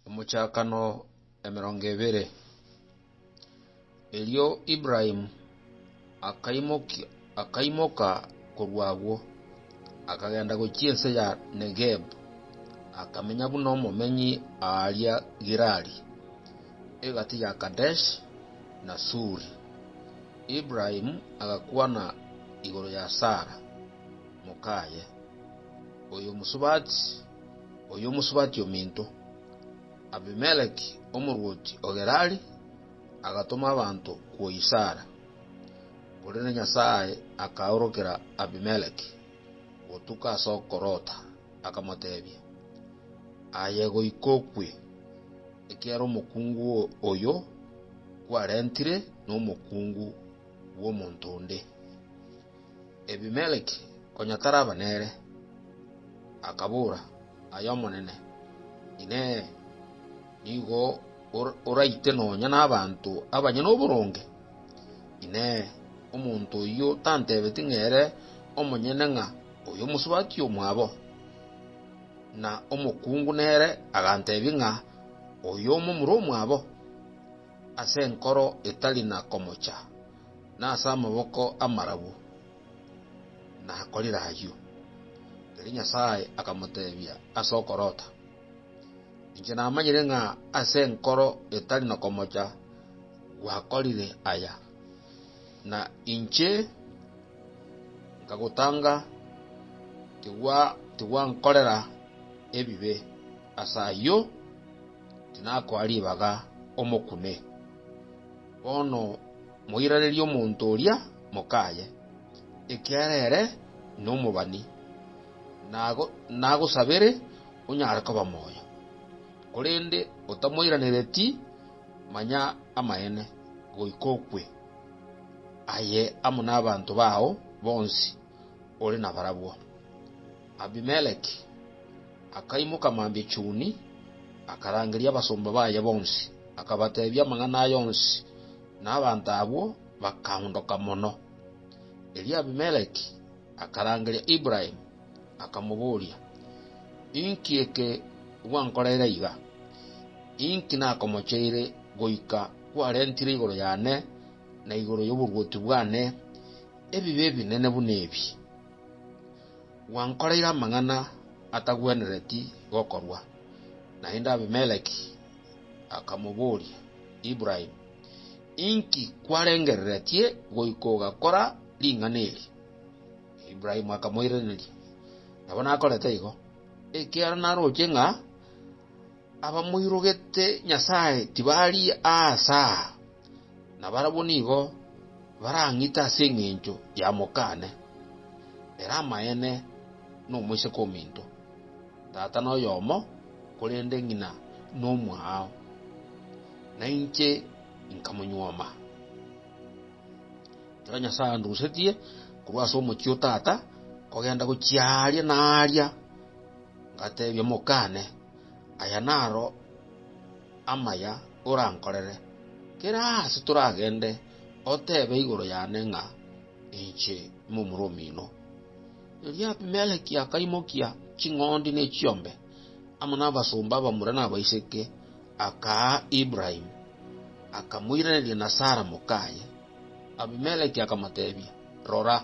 Omochakano emerongo ebere. Erio Ibrahimu akaimokia- akaimoka korwa agwo, akagenda gochia ense ya Negebu, akamenya buna omomenyi aaria Gerari, egati ya Kadesh na Suri. Ibrahimu agakwana igoro ya Sara, mokaye, oyomosubati, oyo omosubati ominto. Abimeleki, omorwoti o Gerari, agatoma abanto kwoisara, korende Nyasae akaorokera Abimeleki gotuka ase okorota, akamoteebia, Aye goika okwe, ekiagera omokungu oyo kwarentire nomokungu bw'omonto onde. Ebimeleki, konya taraba nere, akabora, Aye Omonene, Inee! Nigo oraite nonya nabanto abanyene oboronge? Inee! Omonto oyio tantebeti ng'a ere omonyene ng'a oyo omosubati omwabo? Na omokungu nere agantebia ng'a oyo omomura omwabo? Ase enkoro etari na komocha. Nase amaboko amarabu nakorire ayio. Erio Nyasae akamotebia ase okorota, Inche namanyire ng'a ase enkoro etari nokomocha gwakorire aya, na inche nkagotanga tigwa- tigwankorera ebibe, ase ayio tinakoa ribaga omokune. Bono moirarerie omonto oria mokaye, ekiagera ere nomobani, nagosabere onyare koba moyo. Korende otamoiranereti, manya amaene, goika okwe, aye amo nabanto bao bonsi ore nabarabwo. Abimeleki. Akaimoka mambia chuni, akarangeria abasomba baye bonsi, akabateebia amang'ana aya onsi, na abanto abwo bakaondoka mono. Erio Abimeleki akarangeria Ibrahimu, akamoboria, Inki eke gwankoreire aiga? Inki nakomocheire goika kwarentire igoro yane na igoro y'oborwoti bwane ebibe ebinene buna ebi? Gwankoreire amang'ana atagwenereti gokorwa. Naende Abimeleki akamoboria, Ibrahimu, inki kwarengereretie goika ogakora ring'ana eri? Ibrahimu akamoiraneria, Nabo nakorete igo, ekiagera naroche ng'a. Abamoirogete Nyasae tibari aase aa, na barabwo nigo barang'ite ase engencho ya mokane. Ere amaene nomoiseke ominto, tata noyomo, korende ng'ina nomwao, na inche inkamonyuoma. Ekero Nyasae andusetie korwa ase omochie o tata kogenda gochia aaria na aaria, ngatebia mokane, Aya naro amaya orankorere, kera aase toragende oteebe igoro yane ng'a inche momura omino. Erio Abimeleki akaimokia ching'ondi ne chiombe, amo nabasomba abamura na abaiseke, akaa Ibrahimu, akamoiraneria na Sara mokaye. Abimeleki akamoteebia, Rora,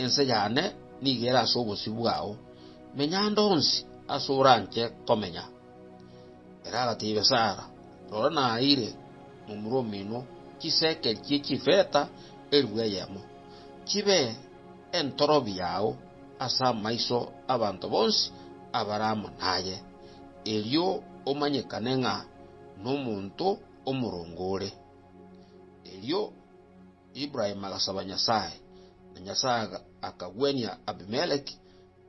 ense yane nigo ere ase obosio bwao, Menya ande onsi ase oranche komenya. Ere agatebia Sara, Rora naeire momura omino chisekeri chie chifeta elifu eyemo, chibe entorobi yao ase amaiso 'abanto bonsi abare amo naye, erio omanyekane ng'a nomonto omoronge ore. Erio Ibrahimu agasaba Nyasae, na Nyasae akagwenia Abimeleki,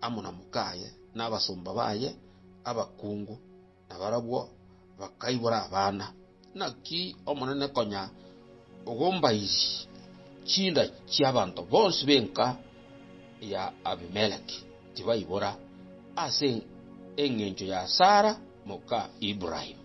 amo na mokaye na abasomba baye abakungu, na barabwo bakaibora abana. Naki Omonene konya ogombairie chinda chi'abanto bonsi b'enka ya Abimeleki tibaibora ase engencho ya Sara moka Ibrahimu.